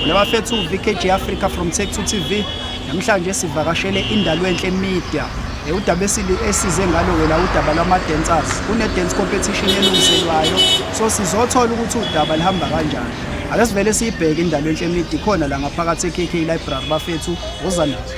Nabafethu VKG Africa from Tech to TV. Namhlanje sivakashele indalwenhle media. Eh, udaba esize ngalo wena udaba lwama-dancers kune-dance competition elungiselwayo so sizothola ukuthi udaba lihamba kanjani ake sivele siyibheke indalo enhle midi khona la ngaphakathi e-kk library bafethu woza nazo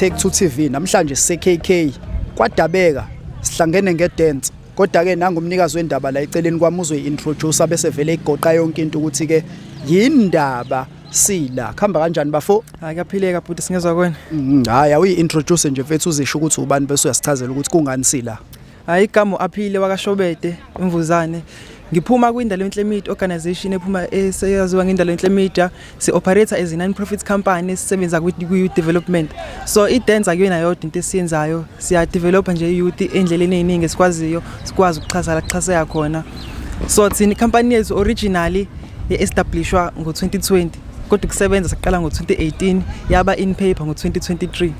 Take to TV namhlanje seKK kwadabeka sihlangene ngedance kodwa ke nangumnikazi wendaba la eceleni kwami uzoyi-introduce bese vele igoqa yonke into ukuthi ke yindaba sila khamba kanjani bafo hayi kaphileka bhuti singezwa kwena mm, hayi awuyi introduce nje mfethu uzisho ukuthi ubani bese uyasichazela ukuthi kungani sila hayi igama aphile wakashobede imvuzane ngiphuma kwindalo enhle media organization ephuma eseyaziwa ngendalo enhle media si operator as a non profit company sisebenza kwi youth development so i dance akuyona yodwa into esiyenzayo siya develop nje youth endleleni eziningi esikwaziyo sikwazi ukuxhasa la kuxhaseka khona so thina company yethu originally ye-establishwa ngo-2020 kodwa ukusebenza saqala ngo-2018 yaba in paper ngo-2023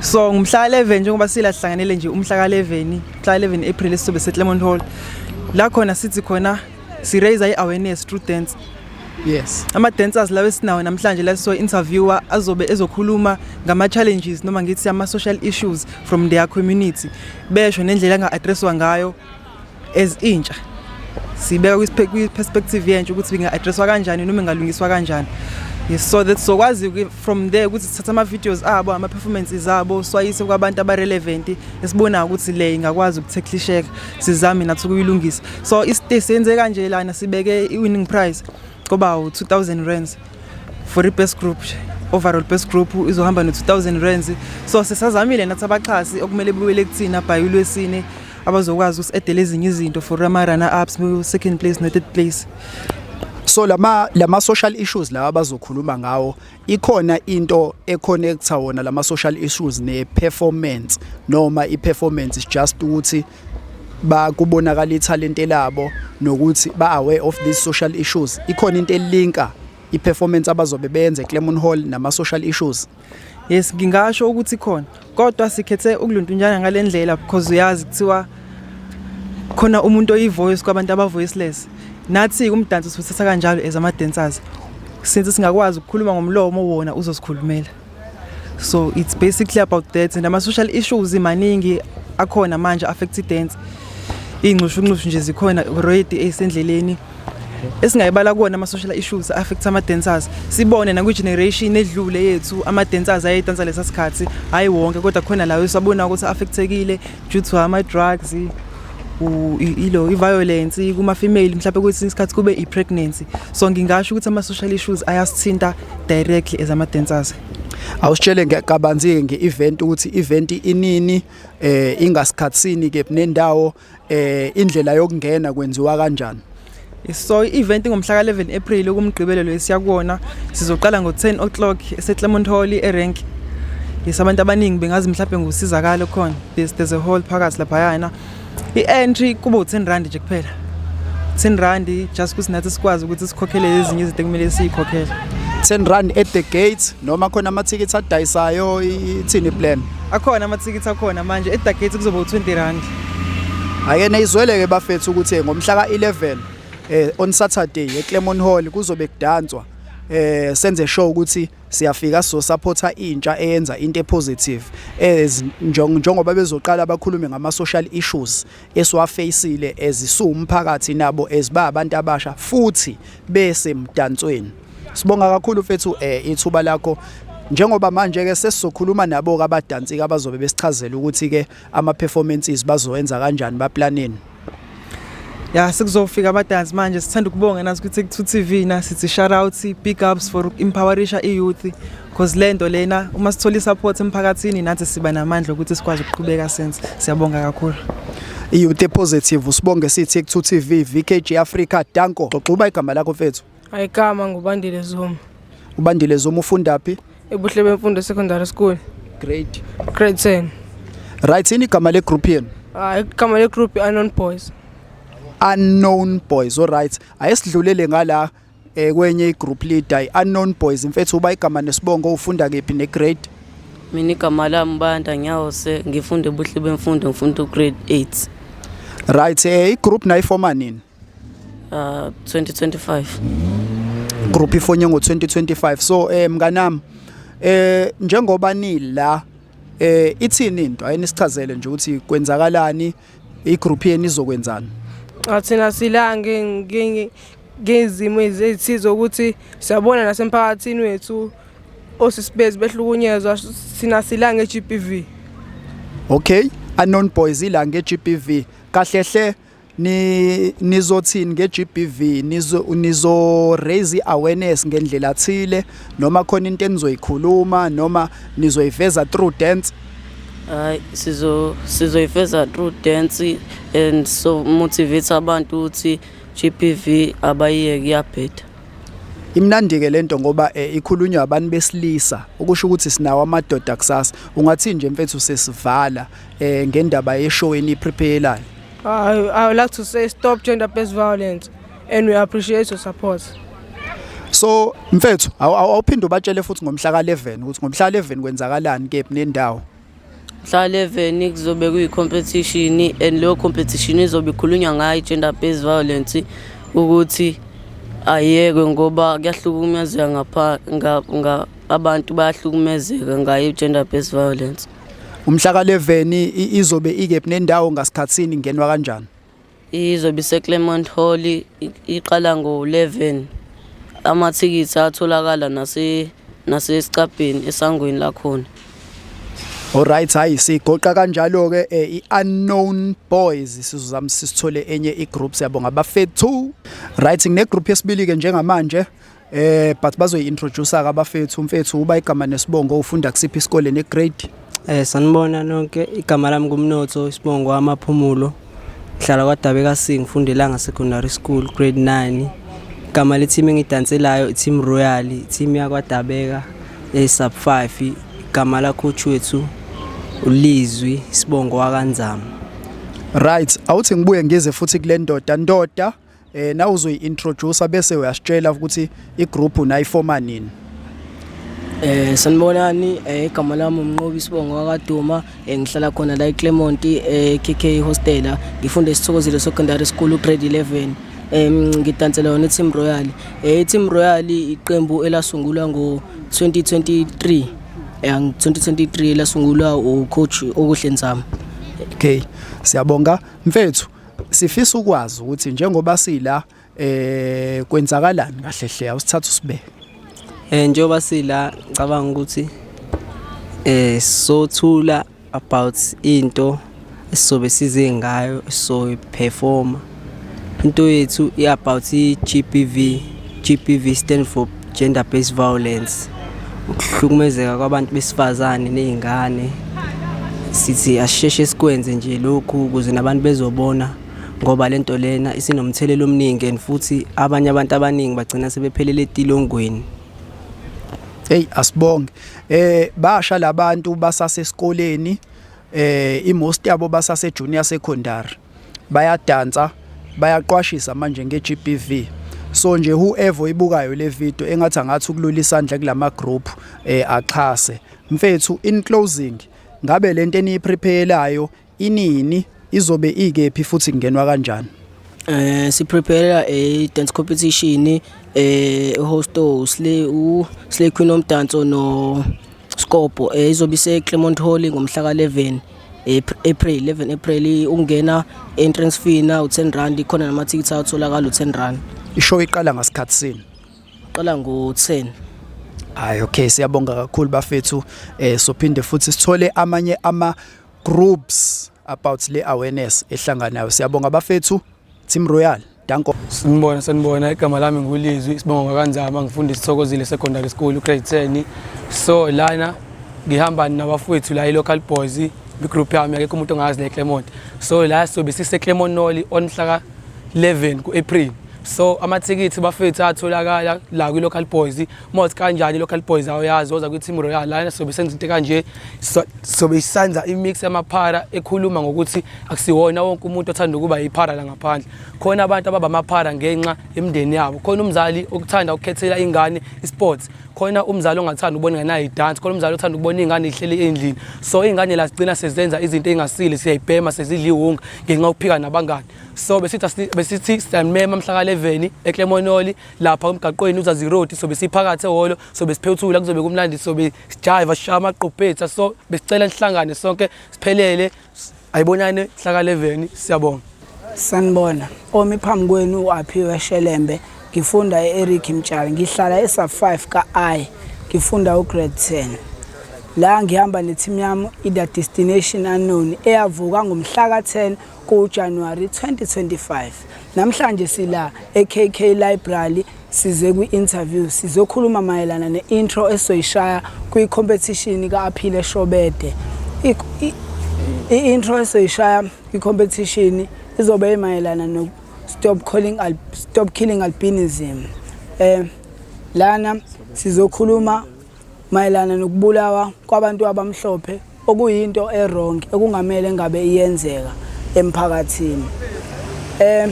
so ngumhla 11 njengoba sila sihlanganele nje umhla ka-11 mhla 11 april esizobe seclermont hall la khona sithi khona si-raise i-awareness through dance yes ama-dancers lawo esinawo namhlanje la siso-interviewer azobe ezokhuluma ngama-challenges noma ngithi ama-social issues from their community besho nendlela anga-addresswa ngayo as intsha sibeka kwi-perspective yentsha ukuthi inga-addresswa kanjani noma ingalungiswa kanjani yes so that sokwazi from there ukuthi sithatha ama-videos abo ama-performances abo swayise kwabantu abarelevant esibonayo ukuthi le ingakwazi ukuthekhlisheka sizame nathi ukuyilungisa so isite senze kanje lana sibeke i-winning prize koba u-2000 rands for i-best group overall best group izohamba no-2000 rands so sisazamile nathi abaxhasi okumele bubele kuthina by ulwesine abazokwazi usi-edela ezinye izinto for ama-runner ups second place no-third place so lama lama social issues lawa bazokhuluma ngawo ikhona into econnecta wona lama social issues ne performance noma i performance is just ukuthi bakubonakala ithalente labo nokuthi ba-aware of these social issues ikhona into elinka i-performance abazobe beyenze eClermont Hall nama-social issues yes ngingasho ukuthi khona kodwa sikhethe ukuluntunjana ngale ndlela because uyazi kuthiwa khona umuntu oyi-voice kwabantu aba-voiceless nathi umdanso siwuthatha kanjalo as ama-dancers since singakwazi ukukhuluma ngomlomo wona uzosikhulumela so it's basically about that and ama-social issues maningi akhona manje affect i-dance iy'nxushunxushu nje zikhona already eyisendleleni esingayibala kuwona ama-social issues affect ama-dancers sibone nakwi-generation edlule yethu ama-dancers ayedansa lesa sikhathi hhayi wonke kodwa khona lawo esabona ukuthi affectekile due to ama-drugs ilo i-violence kuma-female mhlawumbe kwesinye isikhathi kube i-pregnancy so ngingasho ukuthi ama-social issues ayasithinta directly as ama dancers awusitshele ngekabanzi nge event ukuthi event inini eh ingasikhatsini ke nendawo eh indlela yokungena kwenziwa kanjani So i-event ngomhla ka-11 April kumgqibelelo esiya kuwona sizoqala ngo-10 o'clock eseClermont Hall eRank. Yes abantu abaningi bengazi mhlawumbe ngusizakalo khona. There's, there's a hall phakathi laphayana. I-entry kuba u-10 rand nje kuphela 10 rand just ukuthi nathi sikwazi ukuthi sikhokhele ezinye izinto ekumele siyikhokhele 10 rand at the gate noma khona amathikithi adayisayo ithini plan akhona amathikithi akhona manje at the gate kuzoba u-20 rand ake neyizweleke bafethu ukuthi ngomhla ka-11 eh on Saturday eClermont Hall kuzobe kudanswa eh senze show ukuthi siyafika so supporta intsha eyenza into epositive as njengoba bezoqala abakhulume ngama social issues esiwafacile ezisuwu umphakathi nabo eziba abantu abasha futhi bese mdansweni sibonga kakhulu mfethu eh, ithuba lakho njengoba manje ke sesizokhuluma nabo ke abadansika abazobe besichazela ukuthi ke ama performances bazowenza kanjani baplaneni ya sekuzofika abadansi manje sithanda ukubonga nazi ukuthi ku TV na sithi shout out big ups for empowerisha i youth because lento lena uma sithola support emphakathini nathi siba namandla ukuthi sikwazi ukuqhubeka sense siyabonga kakhulu i youth positive usibonge sithi ku TV VKG Africa danko xoxuba igama lakho mfethu Ayikama ngubandile Zuma. Ubandile Zuma ufunda phi? Ebuhle bemfundo secondary school. Grade grade 10. Right, yini igama le group yenu? Ah, igama le group unknown boys. Unknown boys. All right. Ayesidlulele ngala eh kwenye igroup leader i unknown boys mfethu uba igama nesibongo ufunda kephi ne grade? Mina igama lami Banda Nyawose ngifunda ebuhle bemfundo ngifunda ugrade 8. Right, eh igroup nayifoma nini? uh, 2025 group ifonye ngo-2025 so um eh, mnganami eh njengoba nila eh ithini into ayinisichazele nje ukuthi kwenzakalani igroup yenu izokwenzani athina silange ngezimo ezithize ukuthi siyabona nasemphakathini wethu osisibezi behlukunyezwa sina silange GBV okay anon boys ilange GBV kahle hle ni nizothini ngeGBV nizo nizo raise awareness ngendlela thile noma khona into enizoyikhuluma noma nizoyiveza through dance hayi sizo sizoyifeza through dance and so motivate abantu ukuthi GBV abayeke kuyabheda imnandi ke lento ngoba eh, ikhulunywa abantu besilisa ukusho ukuthi sinawo amadoda kusasa ungathi nje mfethu sesivala eh, ngendaba yeshow eniprepare I, I would like to say stop gender-based violence and we appreciate your support. So mfethu awuphinde ubatshele futhi ngomhla ka-11 ukuthi ngomhla ka-11 kwenzakalani kephi nendawo. Mhla 11 kuzobe kuyi competition and leyo competition izobe ikhulunywa ngayo gender based violence ukuthi ayekwe ngoba kuyahlukumezeka ngapha abantu bayahlukumezeka ngayo gender based violence. Umhla ka 11 izobe ikephi nendawo ngasikhatsini ngenwa kanjani? Izobe ise Clermont Hall iqala ngo 11. Amathikithi atholakala nase nasesicabheni esangweni lakhona. Alright hayi sigoqa kanjalo ke eh, iunknown boys sizozama sisithole enye igroup siyabonga bafethu. Right ngine group yesibili ke njengamanje Eh but bazoyi introduce ka bafethu umfethu uba igama nesibongo ufunda kusiphi isikole ne grade? Eh sanibona nonke igama lami kumnotho isibongo amaphumulo ngihlala kwaDabe kaSing ngifunda eLanga Secondary School grade 9 igama le-team engidanselayo i-team Royal i-team yakwaDabeka e-sub 5 igama lacoach wethu uLizwi Sibongo wakanzama Right awuthi ngibuye ngize futhi kule ndoda ndoda eh na uzoyi-introducer bese uyasitshela ukuthi igroup nayifoma nini Eh sanibonani eh, igama lami umnqobi sibongo wakaduma eh, ngihlala khona la eClermont eh KK hostela ngifunde isithokozile secondary school grade 11 em ngidansela yona iTeam Royal eh iTeam Royal iqembu elasungulwa ngo 2023 eh 2023 lasungulwa ucoach okuhle Nzama okay siyabonga mfethu Sifisa ukwazi ukuthi njengoba sila eh kwenzakalani kahle hle awusithatha usibeke. Eh njengoba sila ngicabanga ukuthi eh sothula about into esizobe size ngayo so performer into yethu i-about i-GBV GBV stand for gender based violence ukuhlukumezeka kwabantu besifazane nezingane sithi asisheshe sikwenze nje lokhu ukuze nabantu bezobona ngoba lento lena isinomthelelo omningi and futhi abanye abantu abaningi bagcina sebephelele etilongweni hey asibonge eh basha labantu basasesikoleni eh imost yabo basase junior secondary bayadansa bayaqwashisa manje nge-GBV so nje whoever oyibukayo le video engathi angathi ukulula isandla kulama group eh axhase mfethu in closing ngabe lento eniyiprepayelayo inini izobe ikephi futhi kungenwa kanjani eh siprepare a dance competition eh host usle u Slay Queen omdanso no Skopo eh, izobe ise Clermont Hall ngomhla ka 11 April 11 April ungena entrance fee na u10 rand khona nama tickets atholakala u10 rand ishow iqala ngasikhathi sini iqala ngo10 hayi okay siyabonga kakhulu bafethu eh sophinde futhi sithole amanye ama groups about le awareness ehlanganayo siyabonga bafethu team royal Danko. Sinibona sanibona igama lami ngulizwi isibongo kanzama ngifunda isithokozile secondary school grade 10 so lana ngihamba nabafowethu la i-local boys igroup yami akekho umuntu ongazi le Clermont so la sobe sise Clermont Noli on mhla ka 11 ku-April so amathikithi bafethu atholakala la kwi-local boys Moth kanjani local boys awuyazi oza kwi-team royal lana sobe senza into kanje sobe isanza imix yamaphara ekhuluma ngokuthi akusiwona wonke umuntu othanda ukuba yiphara la ngaphandle khona abantu ababa amaphara ngenxa yemndeni yabo khona umzali okuthanda ukukhethela ingane isports khona umzali ongathanda ukubona ingane nayo idance khona umzali othanda ukubona ingane ihleli endlini so ingane la sigcina sezenza izinto engasile siyayibhema sezidliwunga ngenxa yokuphika nabangani so besithi besithi siyamema mhla ka 11 eClemonoli lapha emgaqweni uzazi road sobe siphakathi ehholo sobe siphethula kuzobe kumnandi sobe sijayiva sishaya amaqophetha so besicela nihlangane sonke siphelele ayibonane hlakaleveni siyabonga sanibona omi phambi kwenu u-aphiwe shelembe ngifunda e-eric mtshali ngihlala e-sub 5 ka-i ngifunda ugrade 10 la ngihamba nethimu yami i-the destination unknown eyavuka ngomhla ka-10 kuJanuwari 2025. Namhlanje sila eKK Library size kwi-interview sizokhuluma mayelana ne-intro esizoyishaya kwi-competition ka-Aphile Shobede. I-intro esizoyishaya kwi-competition izobe imayelana no Stop Calling Al Stop Killing Albinism. Eh lana sizokhuluma mayelana nokubulawa kwabantu abamhlophe okuyinto erong ekungamele ngabe iyenzeka emphakathini um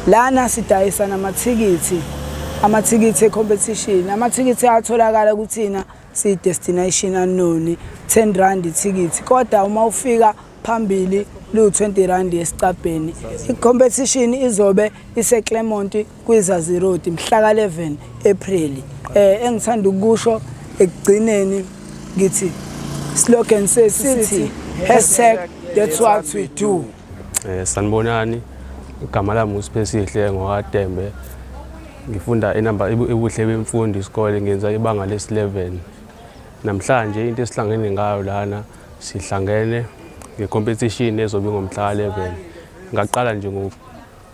lana sidayisa namathikithi amathikithi ecompetition amathikithi atholakala kuthina siyi-destination unknown 10 rand ithikithi kodwa uma ufika phambili liwu-20 rand esicabheni i-competition izobe iseclermont kwiZazi Road mhla ka-11 Ephreli. Eh engithanda ukusho ekugcineni ngithi slogan sesithi hashtag that's what we do. Eh sanibonani igama lami uSiphesihle ngokaDembe. Ngifunda enamba ebuhle bemfundo isikole ngenza ibanga lesi-11. Namhlanje into esihlangene ngayo lana sihlangene ngecompetition ezobe ngomhla ka-11. Ngaqala nje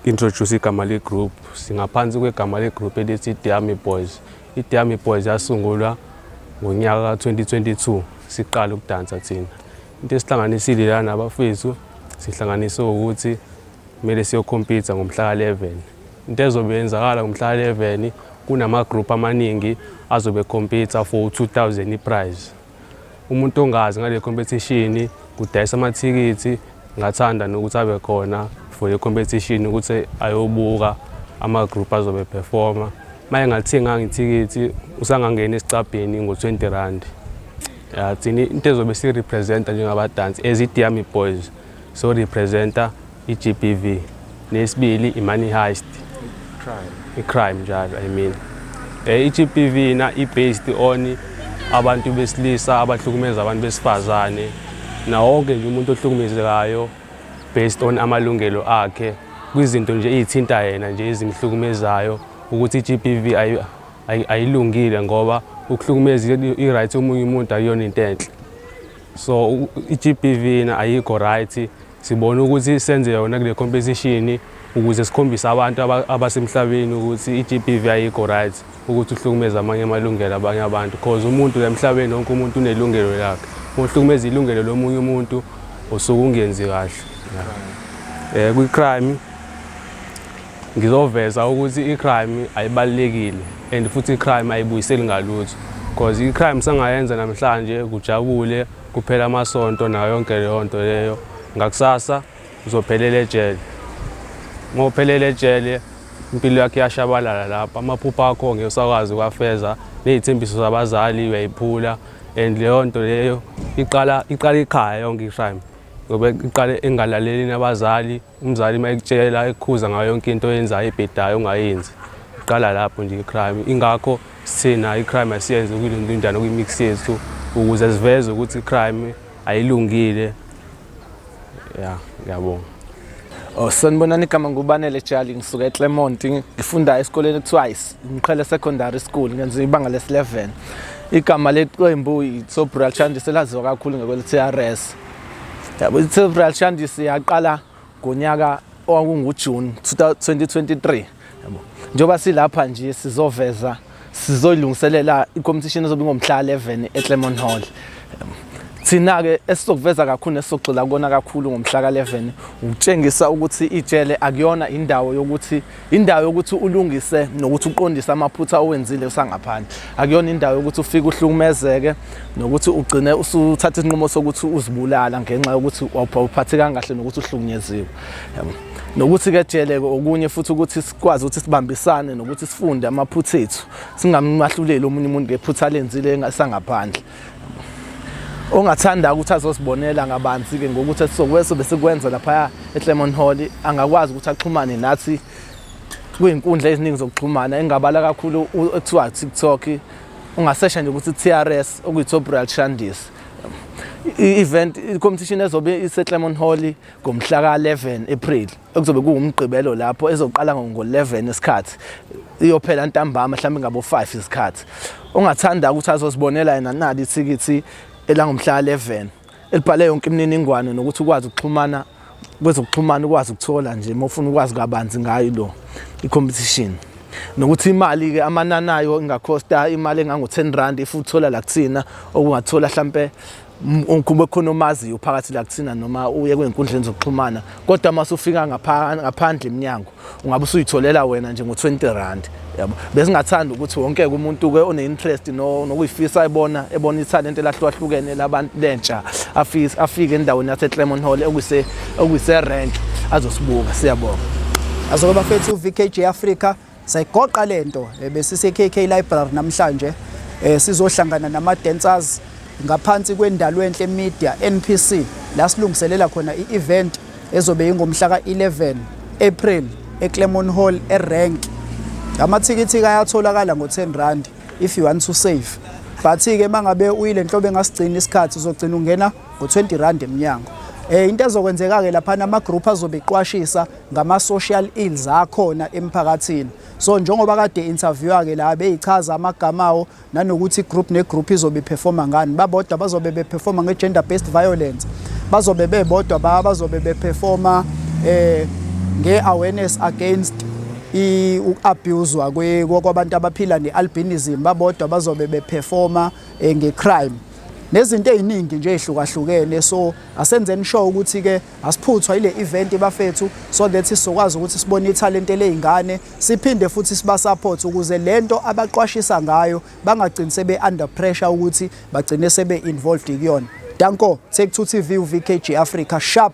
introduce igama le group singaphansi kwegama le group elithi Diami Boys iDiami Boys yasungulwa ngonyaka ka 2022 siqala ukudansa thina into esihlanganisile lana abafethu sihlanganise ukuthi kumele siyokhompitha ngomhla ka 11 into ezobe yenzakala ngomhla ka 11 kunama group amaningi azobe khompitha for 2000 iprize Umuntu ongazi ngale competition kudayisa amathikithi ngathanda nokuthi abe khona for i-competition ukuthi ayobuka ama-group azobe performa uma engathenganga ithikithi usangangena esicabheni ngo-20 rand ya thina into ezobe sirepresenta njengabadansi as idiyami boys so representa i-GBV nesibili i-money heist i-crime njalo i mean eh, i-GBV na i-based on abantu besilisa abahlukumeza abantu besifazane nawonke nje umuntu ohlukumezekayo based on amalungelo akhe kwizinto nje eyithinta yena nje ezimhlukumezayo ukuthi i-GBV ayilungile ngoba ukuhlukumeza i-right omunye umuntu akuyona into enhle so i-GBV na ayikho right Sibona ukuthi senze yona kule competition ukuze sikhombise abantu abasemhlabeni ukuthi i-GBV ayikho right ukuthi uhlukumeza amanye amalungelo abanye abantu cause umuntu la emhlabeni wonke umuntu unelungelo lakhe uhlukumeza ilungelo lomunye umuntu usuke ungenzi kahle eh kwi-crime ngizoveza ukuthi i-crime ayibalekile and futhi i-crime ayibuyiseli ngalutho because i-crime sangayenza namhlanje kujabule Kuphela amasonto nayo yonke leyo nto leyo, ngakusasa uzophelela ejele. Uma uphelela ejele impilo yakhe iyashabalala lapho, amaphupho akho ngeke usakwazi ukwafeza, ney'thembiso zabazali uyayiphula and leyo nto leyo iqala iqala ikhaya yonke i-crime ngoba iqale engalaleli nabazali Umzali uma ekutshela ekukhuza ngayo yonke into oyenzayo ebhedayo ongayenzi iqala lapho nje i-crime ingakho sithina i-crime asiyenze kuyinjani kwi-mix yethu ukuze siveze ukuthi i-crime ayilungile ya ngiyabonga Oh sanibonani igama ngubanele Jali ngisuka eClermont ngifunda esikoleni ekuthiwa iMqhele Secondary School ngenza ibanga lesi-11 igama leqembu iTsobral Chandi selaziwa kakhulu ngekwele-TRS yabo i-Real Shandis yaqala ngonyaka owakunguJune 2023 yabo njengoba silapha nje sizoveza sizoyilungiselela i-competition ezobe ingomhla 11 eClermont Hall thina-ke esizokuveza kakhulu nesizogxila kona kakhulu ngomhla ka-11 ukutshengisa ukuthi ijele akuyona indawo yokuthi indawo yokuthi ulungise nokuthi uqondise amaphutha owenzile usangaphandle akuyona indawo yokuthi ufike uhlukumezeke nokuthi ugcine usuthatha isinqumo sokuthi uzibulala ngenxa yokuthi awuphathekanga kahle nokuthi uhlukunyeziwe nokuthi ke jeleke okunye futhi ukuthi sikwazi ukuthi sibambisane nokuthi sifunde amaphutha ethu singammahluleli omunye umuntu ngephutha lenzile engasangaphandle ongathanda ukuthi azosibonela ngabanzi-ke ngokuthi esizokweso besikwenza laphaya eclemon hall angakwazi ukuthi axhumane nathi kwiyinkundla eziningi zokuxhumana engabala kakhulu ekuthiwa tiktok ungasesha nje ukuthi trs okuyi-tobrial shandis i-event i-competition ezobe iseclemon hall ngomhla ka-11 april ekuzobe kuwumgqibelo lapho ezoqala ngo-11 isikhathi iyophela ntambama mhlawumbe ngabo-5 isikhathi ongathanda ukuthi azozibonela yena nali ithikithi elangomhla 11 elibhale yonke imininingwane nokuthi ukwazi ukuxhumana kwezokuxhumana ukwazi ukuthola nje uma ufuna ukwazi kabanzi ngayo lo i-competition nokuthi imali-ke amanani ayo ingakhosta imali engango-10 rand if uthola la kuthina okungathola hlampe kube khona omaziyo phakathi la kuthina noma uye kwezinkundleni zokuxhumana kodwa uma usufika ngaphandle eminyango ungabe usuyitholela wena nje ngo-20 rand yabo besingathanda ukuthi wonke-ke umuntu-ke one-interest nokuyifisa ebona ebona ithalente elahlukahlukene labantu lentsha afike endaweni yase-clemon hall okuyise-rank azosibuka siyabonga azoke bafethu uvkj africa Sayigoqa le nto eh, besise-KK Library namhlanje eh, sizohlangana nama-dancers ngaphansi kwendalwenhle media NPC la silungiselela khona i-event ezobe ingomhla ka-11 April eClermont Hall eRank amathikithi ayatholakala ngo-10 rand if you want to save but-ke uma ngabe uyile nhlobo engasigcini isikhathi uzogcina ungena ngo-20 rand emnyango um into ezokwenzeka-ke laphana amagroup azobe iqwashisa ngama-social ills akhona emphakathini so njengoba kade interviewa ke la beyichaza amagama awo nanokuthi group negroup izobe iperforma ngani babodwa bazobe beperforma nge-gender based violence bazobe bebodwa ba bazobe beperforma eh nge-awareness against i-abuswa kwabantu abaphila ne-albinism babodwa bazobe beperforma eh, nge-crime nezinto eziningi nje ezihlukahlukene so asenzeni sure ukuthi ke Asiphuthwa ile event bafethu so that sizokwazi ukuthi sibone ithalente lezingane siphinde futhi siba support ukuze lento abaqwashisa ngayo bangagcini sebe under pressure ukuthi bagcine sebe involved kuyona. Danko, Take 2 TV uVKG Africa sharp